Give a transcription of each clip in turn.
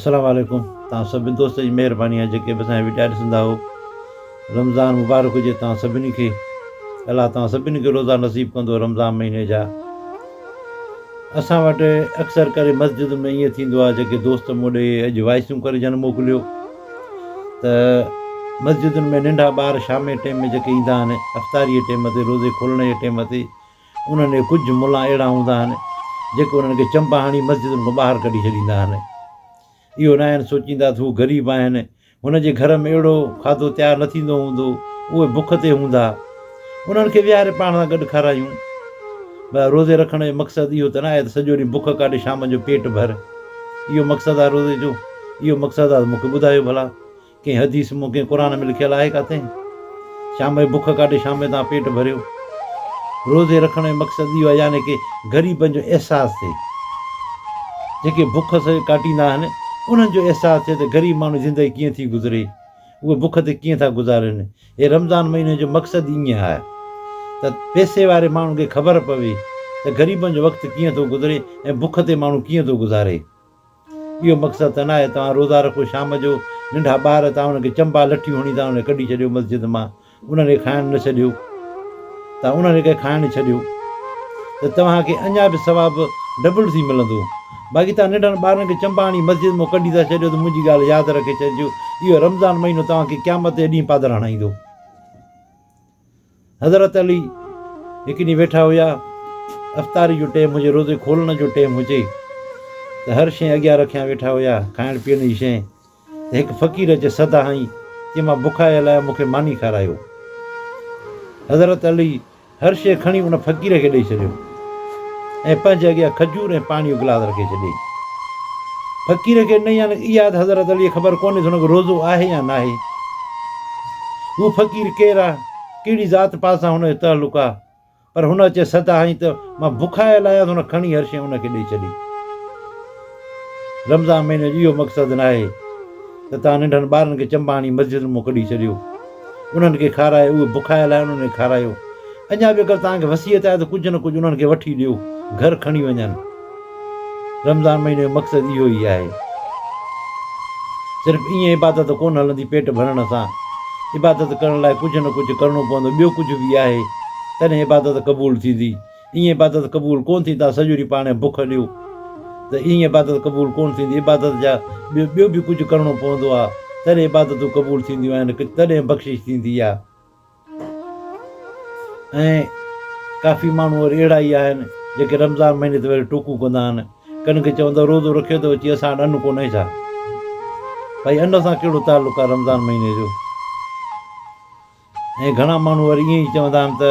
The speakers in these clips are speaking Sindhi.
السلام عليڪم توهان سڀني دوستن جي مهرباني آهي جيڪي به اسانجا وڊيا ڏسندا هو رمضان مبارڪ هجي توهان سڀني کي الله توهان سڀني کي روزا نصيب ڪندو رمضان مهيني جا اسان وٽ اڪثر ڪري مسجد ۾ ائين ٿيندو آهي جيڪي دوست مون ڏي اڄ وائسون ڪري جن موڪليو ته مسجدن ۾ ننڍا ٻار شام جي ٽيم ۾ جيڪي ايندا آهن افطاري جي ٽيم تي روزي کولڻ جي ٽيم تي انهن ۾ ڪجهه ملا اهڙا هوندا آهن، جيڪي انهن کي چنبا هڻي مسجدن کان ٻاهر ڪڍي ڇڏيندا آهن. اهو ناهن سوچيندا ته هو غريب آهن، هن جي گهر ۾ اهڙو کاڌو تيار نه ٿيندو هوندو، اهي بک تي هوندا، انهن کي ويهاري پاڻ سان گڏ کارايون. ڀلا روزي رکڻ جو مقصد اهو ته ناهي ته سڄو ڏينهن بک ڪاٽي شام جو پيٽ ڀر. اهو مقصد آهي روزي جو؟ اهو مقصد آهي ته مون کي ٻڌايو ڀلا. ڪنهن حديث م ڪنهن قرآن م لکيل آهي ڪاٿي شام جي بک ڪاٽي شام جو توهان پيٽ ڀريو روزي رکڻ جو مقصد اهو آهي يعني ڪي غريبن جو احساس ٿئي جيڪي بک سهي ڪاٽيندا آهن انهن جو احساس ٿئي ته غريب ماڻهو جي زندگي ڪيئن ٿي گذري اهي بک تي ڪيئن ٿا گذارين هي رمضان مهيني جو مقصد ئي ائين آهي ته پيسي واري ماڻهن کي خبر پوي ته غريبن جو وقت ڪيئن ٿو گذري ۽ بک تي ماڻهو ڪيئن ٿو گذاري. اهو مقصد ته ناهي توهان روزا رکو شام جو ننڍا ٻار توهان انهن کي چنبا لٺيون هڻي توهان انهن کي ڪڍي ڇڏيو مسجد مان انهن کي کائڻ نه ڇڏيو توهان انهن کي کائڻ ڇڏيو ته توهان کي اڃا به ثواب ڊبل ٿي ملندو باقي توهان ننڍن ٻارن کي چنبا هڻي مسجد مان ڪڍي ٿا ڇڏيو ته منهنجي ڳالهه ياد رکي ڇڏجو اهو رمضان مهينو توهان کي قيامت جي ڏينهن پادر هڻائيندو. حضرت علي هڪ ڏينهن ويٺا هيا، افطاري جو ٽيم هجي، روزي کولڻ جو ٽيم هجي ته هر شيء اڳيان رکيان ويٺا هيا، کائڻ پيئڻ جي شيء ته هڪ فقير اچي صدا هنئي، چي مان بکايل آهيان، مون کي ماني کارايو. حضرت علي هر شيء کڻي ان فقير کي ڏئي ڇڏيو. ۽ پنهنجي اڳيان کجور ۽ پاڻيء جو گلاس رکي ڇڏيائين. فقير کي نه يعنيٰ اياز حضرت عليء خبر ڪونهيس هن کي روزو آهي يا ناهي. هو فقير ڪير آ، ڪهڙي ذات پات سان هن جو تعلق آ، پر هن اچي سڌ هنئين ته مان بکايل آهيان ته هن کڻي هر شيء هن کي ڏئي ڇڏي. رمضان مهيني جو اهو مقصد ناهي ته توهان ننڍن ٻارن کي چنبا هڻي مسجدن مون ڪڍي ڇڏيو. انهن کي کارائي اهي بکايل آهن انهن کي کارايو اڃا به اگر توهان کي وصيت آهي ته ڪجهه نه ڪجهه انهن کي وٺي ڏيو گهر کڻي وڃن رمضان مهيني جو مقصد اهو ئي آهي صرف ائين عبادت ڪونه هلندي پيٽ ڀرڻ سان عبادت ڪرڻ لاء ڪجهه نه ڪجهه ڪرڻو پوندو ٻيو ڪجهه به آهي تڏهن عبادت قبول ٿيندي ايئن عبادت قبول ڪونه ٿي تان سڄو ڏينهن پاڻهي بک هليو ته ايئن عبادت قبول ڪونه ٿيندي عبادت جا ٻيو ٻيو به ڪجهه ڪرڻو پوندو آ تڏهن عبادتون قبول ٿينديون آهن تڏهن بخشش ٿيندي آ ۽ ڪافي ماڻهو وري اهڙا ئي آهن جيڪي رمضان مهيني تي وري ٽوڪون ڪندا آهن ڪن کي چوندا روزو رکيو ته اچي اسان وٽ ان ڪونهي ڇا ڀائي ان سان ڪهڙو تعلق آ رمضان مهيني جو. ۽ گهڻا ماڻهو وري ائين ئي چوندا آهن ته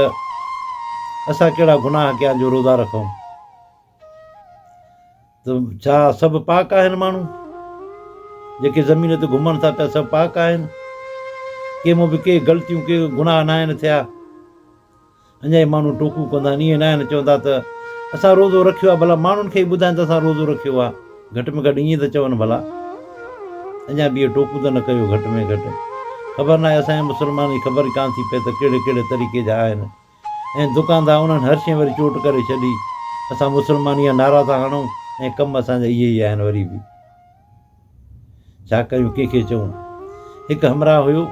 اسان ڪهڙا گناهه ڪيا جو روزا رکون ته ڇا سڀ پاڪ آهن ماڻهو جيڪي زمين تي گهمن ٿا پيا سڀ پاڪ آهن ڪنهن مون به ڪي غلطيون ڪي گناهه ناهن ٿيا اڃا ئي ماڻهو ٽوڪون ڪندا آهن، ائين ناهن چوندا ته اسان روزو رکيو آهي، ڀلا ماڻهن کي ئي ٻڌائين ته اسان روزو رکيو آهي، گهٽ ۾ گهٽ ائين ته چون ڀلا. اڃا به اهي ٽوڪون ته نه ڪيو گهٽ ۾ گهٽ. خبر ناهي اسان جي مسلمانن جي خبر ئي ڪانه ٿي پئي ته ڪهڙي ڪهڙي طريقي جا آهن ۽ دڪاندا انهن هر شين وري چوٽ ڪري ڇڏي. اسان مسلمان اها نعرا ٿا هڻون ۽ ڪم اسان جا اهي ئي آهن وري به. ڇا ڪيون ڪنهن کي چئون. هڪ همراهه هيو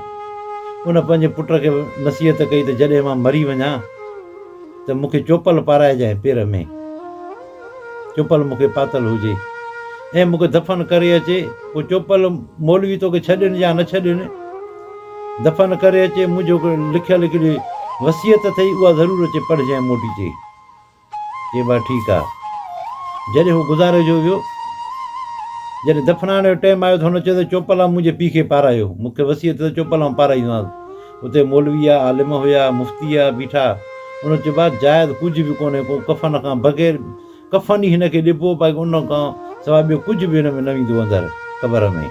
ان پنهنجي پٽ کي نصيحت ڪئي ته جڏهن مان مري وڃان ته مون کي چوپل پارائجانء پير ۾ چوپل مون کي پاتل هجي ۽ مون کي دفن ڪري اچي پوء چوپل مولوي توکي ڇڏين يا نه ڇڏين دفن ڪري اچي منهنجو لکيل هڪڙي وصيت اٿئي اها ضرور اچي پڙهجانء موٽي چي جي با ٺيڪ آ. جڏهن هو گذاري جو ويو. جڏهن دفنائڻ جو ٽيم آيو ته هن چيو ته چوپلام منهنجي پيء کي پارايو. مون کي وسيع ٿيو ته چوپلام پارائيندومانس. اتي مولوي آ، عالم هيا، مفتي آ، بيٺا. انهن چيو با جاء ته ڪجهه به ڪونهي ڪو ڪفن کان بغير ڪفن ئي هن کي ڏبو باقي ان کان سواء ٻيو ڪجهه به هن ۾ نه ويندو اندر قبر ۾.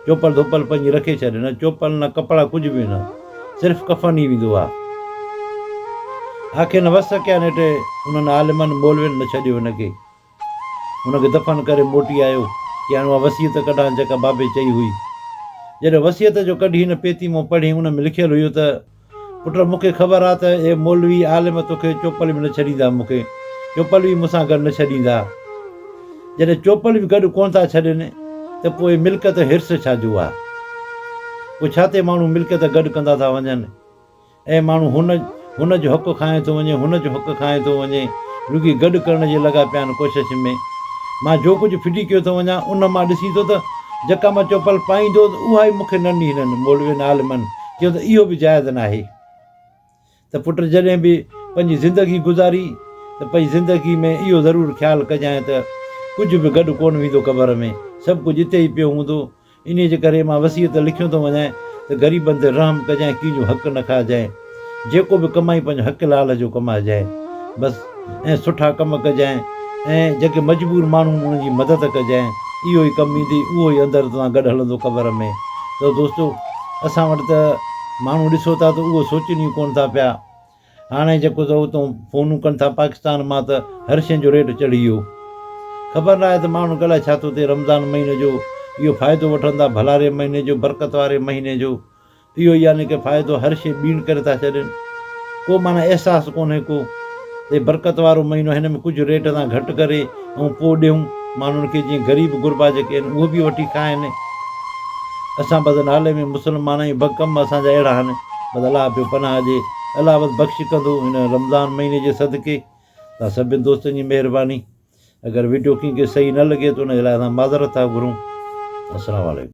چوپل ڌوپل پنهنجي رکي ڇڏ. نه چوپل نه ڪپڙا ڪجهه به نه. صرف ڪفن ئي ويندو آ. آخر نه وس سکيا نيٺ انهن عالمن مولوين نه ڇڏيو هن کي. هن کي دفن ڪري موٽي آيو. چيائين اها وصيت ڪڍان جيڪا بابي چئي هئي. جڏهن وصيت جو ڪڍي هن پيتي مون پڙهي ان ۾ لکيل هيو ته. پٽ مون کي خبر آ ته اهي مولوي عالم توکي چوپل به نه ڇڏيندا مون کي چوپل به مون سان گڏ نه ڇڏيندا جڏهن چوپل به گڏ ڪونه ٿا ڇڏين ته پوء ملڪيت حرص ڇا جو آ پوء ڇا تي ماڻهو ملڪيت گڏ ڪندا ٿا وڃن اهي ماڻهو هن هن جو حق کانئن ٿو وڃي هن جو حق کانئن ٿو وڃي رڳي گڏ ڪرڻ جي لڳا پيا آهن ڪوشش ۾ مان جو ڪجهه ڦٽي ڪيو ٿو وڃان ان مان ڏسي ٿو ته جيڪا مان چوپل پائيندو اها ئي مون کي ننهن هنن مولوين عالمن چيو ته اهو به جائز ناهي ته پٽ جڏهن به پنهنجي زندگي گذاري ته پئي زندگي ۾ اهو ضرور خيال ڪجانء ته ڪجهه به گڏ ڪونه ويندو قبر ۾ سڀ ڪجهه اتي ئي پيو هوندو انهيء جي ڪري مان وصيت لکيون ٿو وڃانء ته غريبن تي رحم ڪجانء ڪنهن جو حق نه کائجانء جيڪو به ڪمائين پنهنجو حق لال جو ڪمائجانء بس ۽ سٺا ڪم ڪجانء ۽ جيڪي مجبور ماڻهو آهن انهن جي مدد ڪجانء اهو ئي ڪم ايندي اهو ئي اندر توهان گڏ هلندو قبر ۾ ته دوستو اسان وٽ ته ماڻهو ڏسو ٿا ته اهو سوچين ئي ڪونه ٿا پيا هاڻي جيڪو ته اتو فونون ڪن ٿا پاڪستان مان ته هر شين جو ريٽ چڙهي ويو خبر ناهي ته ماڻهو الاء ڇا ٿو ٿئي رمضان مهيني جو اهو فائدو وٺن ٿا ڀلاري مهيني جو برڪت واري مهيني جو اهو يعني ڪه فائدو هر شيء ٻيڻ ڪري ٿا ڇڏين ڪو معنيٰ احساس ڪونهي ڪو اي برڪت وارو مهينو هن ۾ ڪجهه ريٽ تان گهٽ ڪري ۽ پو ڏيون ماڻهن کي جيئن غريب غربا جيڪي آهن اهو به وٺي کائن اسان بس نالي ۾ مسلمان آهيون بس ڪم اسان جا اهڙا آهن بس الله پيو پناهه ڏي الله بس بخش ڪندو هن رمضان مهيني جي صدقي تان سڀين دوستن جي مهرباني اگر وڊيو ڪنهن کي صحيح نه لڳي ته ان جي لاء اسان معذرت ٿا گهرون السلام عليڪم